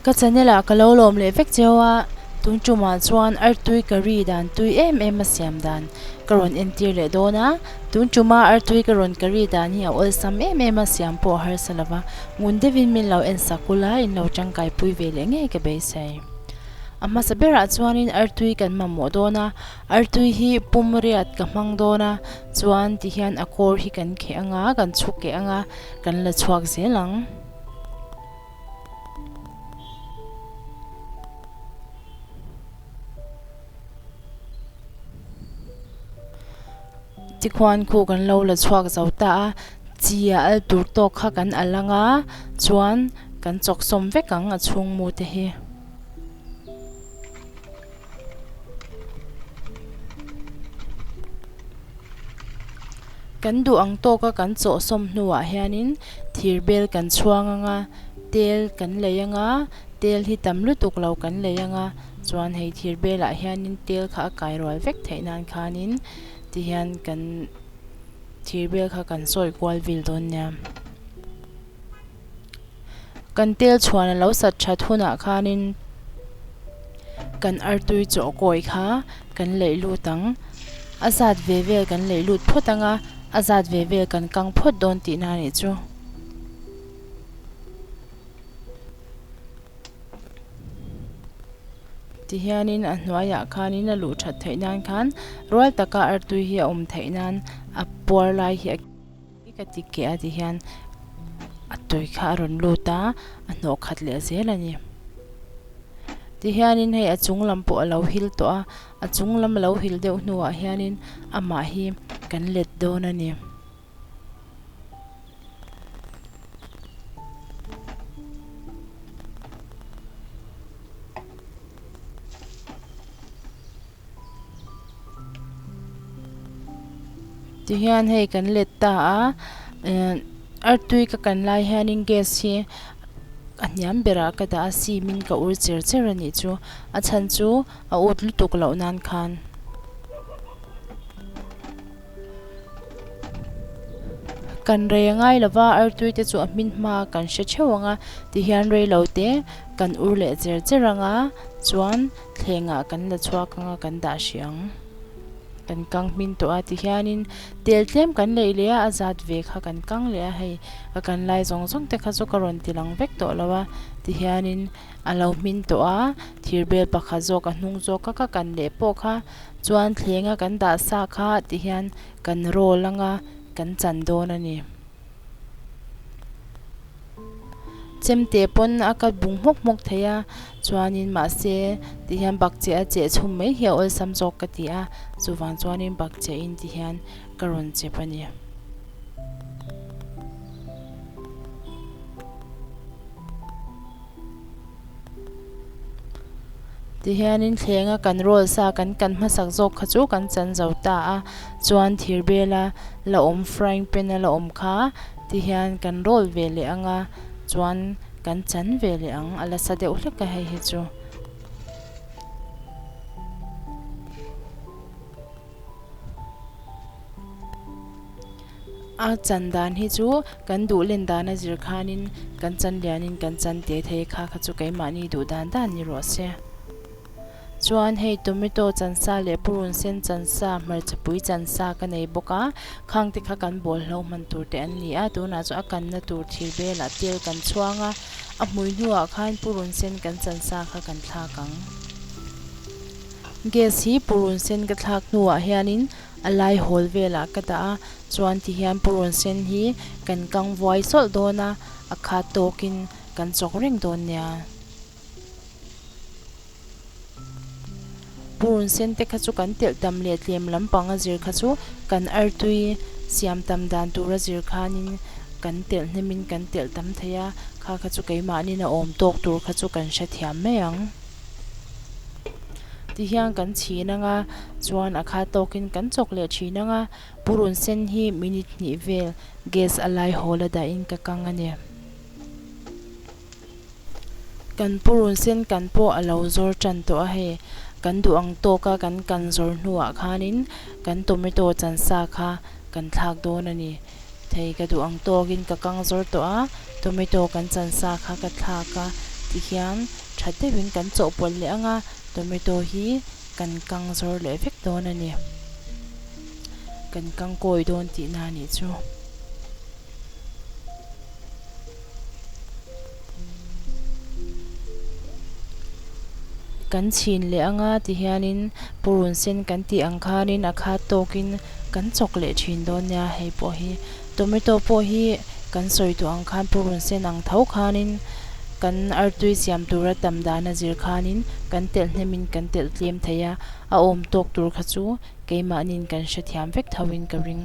Ka channel ah ka lo lawm leh vek cheu a, tun tumah chuan artui ka ri dan tui em em a siam dan ka rawn entir leh dawn a, tun tuma artui ka rawn ka ri dan hi a awlsam em em a siam pawh a harsa lova, ngun deuhin min lo en sak ula in lo tangkai pui ve leh ngei ka beisei. A hmasa berah chuanin Artui kan mamawh dawn a, Artui hi pumriat ka hmang dawn a, chuan tihian a kawr hi kan kheh ang a, kan chhuk keh ang a, kan la chhuak zel ang. Chi khuan khu kan lo la chhuak zo ta a, chia al tur tawk kha kan al anga chuan kan chawk sawm vek ang a chhung mu te hi. Kan duh ang tawka kan chaw sawm hnuah hianin thir bel kan chhuang anga tel kan lei anga tel hi tam lutuk lo kan lei anga chuan hei thir belah hianin tel kha a kai rual vek theih nan khanin. ti hian kan thir vel kha kan sawi kual vil dawn nia kan tel chhuan a lo sat that hunah khanin kan artui chawhkawi kha kan laih lut ang a zat ve vel kan laih lut phawt ang a a zat ve vel kan kang phawt dawn tih na nih chu. Tihianin a hnuaiah khanin a luh that theih nan khan rual taka artui hi a awm theih nan a puar lai hi a kil mai ka ti keh a tihian a tawi kha a rawn lut a a hnawh khat leh zel a ni tihianin hei a chung lam pawh a lo hil tawh a a chung lam a lo hil deuh hnuah hianin amah hi kan let dawn a ni. Tihian hei kan let ta a ehh artui ka kan lai hianin gas hi a hniam berah ka dah a simin ka ur cher cher a nih chu a chhan chu a ût lutuk loh nan khan. Kan rei a ngai lo va, artui te chu a hmin hma a kan hre theuh ang a, ti hian rei lo te kan ur leh cher cher ang a, chuan thleng ah kan la chhuak ang a, kan dah hrih ang, kan kang hmin tawh a, ti hian in tel tlem kan lei leh a, a zat ve kha kan kang leh a, hei ka kan lai zawng zawng te kha chu ka rawn ti lang vek tawh lo a, ti hian in a lo hmin tawh a, thir bel pakhat zawk a hnung zawk ka ka kan leh pawh kha. Chuan thlenga kan dah sa kha ti hian kan roll anga kan chan dawn a ni. Chemte pawn a cut bung hmawk hmawk thei a, chuanin mahse ti hian bakcheh a cheh chhum mai hi a awlsam zawk ka ti a, chuvang chuanin bakcheh in ti hian ka rawn chep a ni. Tihianin thlenga kan roll sa kan kan hmasak zawk kha chu kan chan zo ta a, chuan thir bela la awm frying pan a la awm kha tihian kan roll ve leh ang a, chuan kan chan ve leh ang a la sa deuh hlek a hei hi chu. A chan dan hi chu kan duh len dan a zir khanin kan chan lianin kan chan teh thei kha kha chu keimahni duh dan dan ni rawh se. Chuan hei tomato chan sa leh purun sen chan sa, hmarcha pui chan sa ka nei bawk a, khang te kha kan bawl hlo hman tur te an ni a, tunah chuan a kan na tur thir belah tel kan chhuang a, a hmui hnuah khan purun sen kan chan sa kha kan thlak ang. Gas hi purun sen ka thlak hnuah hianin a lai hawl velah ka dah a, chuan tihian purun sen hi kan kang vuai sawlh dawn a, a khat tawkin kan chawk reng dawn nia. Purun sen te kha chu kan telh tam leh tlem lampang a zir kha chu kan artui siam tam dan tur a zir khanin kan telh hnemin kan telh tam thei a, kha kha chu keimahnin a awm tawk tur kha chu kan hrethiam mai ang. Ti hian kan chhin anga chuan a kha tawkin kan chawk leh thin anga purun sen hi minute hnih vel gas a lai haw la dahin ka kang a ni. Kan purun sen kan pawh a lo zawr tan tawh a hei. Kan duh ang tawk a kan kan zawrh hnuah khanin kan tomato chansa kha kan thlak dawn a ni. thei ka duh ang tawk in ka kang zawr tawh a, tomato kan chan sa kha ka thlak a ti hian tha deuh in kan chawh pawlh leh ang a, tomato hi kan kang zawr leh vek dawn a ni, kan kang kawi dawn tih na a nih chu. Kan chhin leh anga ti hianin purun sen kan tih ang khanin a khat tawkin kan chawk leh thin dawn nia. Hei pawh hi tomato pawh hi kan sawi tawh ang khan purun sen ang tho khanin kan artui siam tura tam dan a zir khanin kan telh hnemin kan telh tlem thei a, a awm tawk tur kha chu keimahniin kan hrethiam vek thoin ka ring.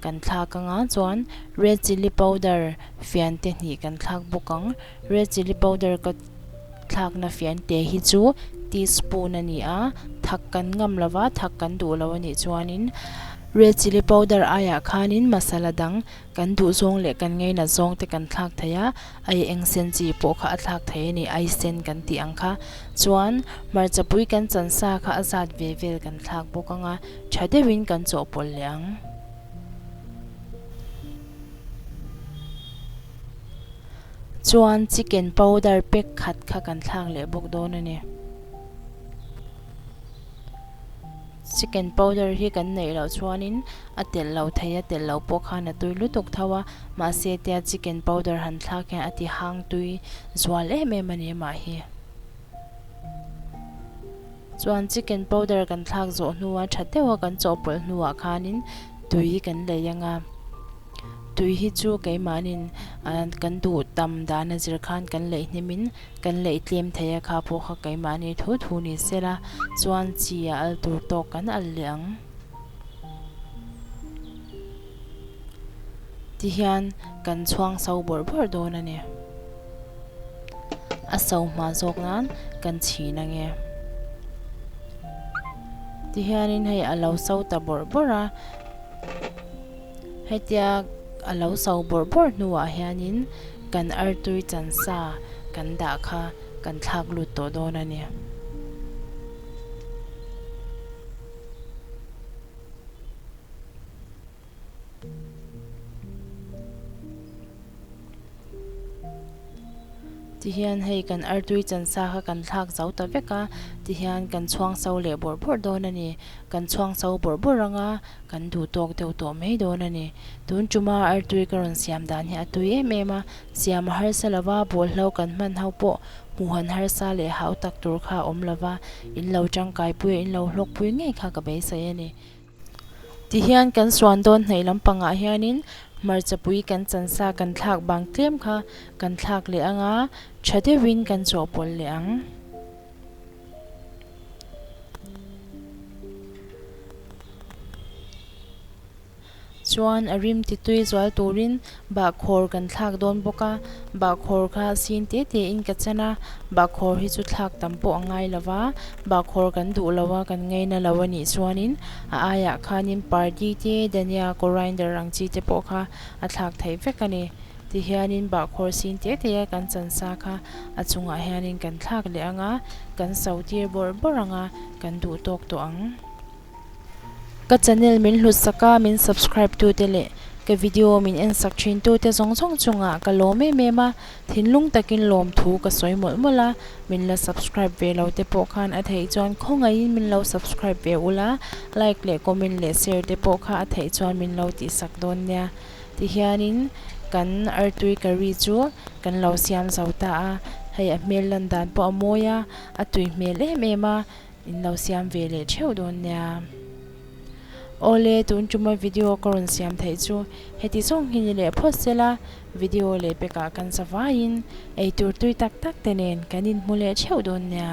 Kan thlak anga chuan red chilli powder fian te hnih kan thlak bawk ang. Red chilli powder ka thlakna fian te hi chu tea spoon a ni a, thak kan ngam lo va, thak kan duh lo a nih chuanin red chilli powder aiah khanin masala dang kan duh zawng leh kan ngei nat zawng te kan thlak thei a, ai eng sen chi pawh kha a thlak thei a ni, ai sen kan tih ang kha. Chuan hmarcha pui kan chansa kha a zat ve vel kan thlak bawk ang a. Tha deuhin kan chawhpawlh leh ang. Chuan chicken powder pack khat kha kan thlak leh bawk dawn a ni. Chicken powder hi kan neih loh chuanin a telh lo thei a, telh lo pawh khan a tui lutuk tho a. Mahse tia chicken powder han thlak hian a ti hang tui zual em em a ni a mah hi. Chuan chicken powder kan thlak zawh hnua tha deuha kan chawhpawlh hnuah khanin tui kan lei a nga. Tui hi chu keimahnin ahh kan duh tam dana zir khan kan lei hnemin kan lei tlem thei a kha pawh kha keimahni thu thu ni sela chuan chi a al tur tawk kan al leh ang. Tihian kan chhuangso bawrh bawrh dawn a ni. a so hma zawk nan kan chhin a nge. Ti hianin hei a lo so ta bawrh bawrh a, hetia a lo so bawrh bawrh hnuah hianin kan artui chansa kan dah kha kan thlak lut tawh dawn a ni. Tihian hei kan artui chansa kha kan thlak zo ta vek a, tihian kan chhuangso leh bawrh bawrh dawn a ni. Kan chhuangso bawrh bawrh ang a, kan duh tawk deuh tawh mai dawn a ni. Tun ṭuma artui ka rawn siam dan hi a tui em em a, siam a harsa lo va, bual hlo kan hman ho pawh hmuh han harsa leh hautak tur kha a awm lo va, in lo ṭangkai pui, in lo hlawk pui ngei kha ka beisei a ni. Tihian kan suan dawn hnaih lam pangah hianin hmarchapui kan chansa kan thlak bang tlem kha kan thlak leh anga tha deuhin kan chawhpawlh leh ang. Chuan a rim ti tui zual turin Bahkhawr kan thlak dawn bawk a, bahkhawr kha sin te te in ka chen a, bahkhawr hi chu thlak tam pawh a ngai lo va, bahkhawr kan duh lo a, kan ngei na lo a nih chuan in a aiah khan in party te, Dania Coriander ang chi te pawh kha a thlak theih vek a ni. Ti hian in bahkhawr sin te te a kan chansa kha a chung ah hian in kan thlak leh ang a, kan sautir bawrh bawrh ang a, kan duh tawk tawh ang. Ka channel min hlutsak a, min subscribe tu te leh ka video min ensak thin tu te zawng zawng chungah ka lawm em em a, thinlung takin lawm thu ka sawi mawlh mawlh a, min la subscribe ve lo te pawh khan a theih chuan khawngaihin min lo subscribe ve ulh a, like leh comment leh share te pawh kha a theih chuan min lo tihsak dawn nia tihianin kan Artui Curry chu kan lo siam zo ta a, hei a hmel lan dan pawh a mawi a, a tui hmel em em a. In lo siam ve leh theuh dawn nia. Awle tun tuma video ka rawn siam theih chu heti zawng hi ni leh phawt sela video leh pekah kan sa vaiin eitur tui tak tak te nen kan in hmu leh theuh dawn nia.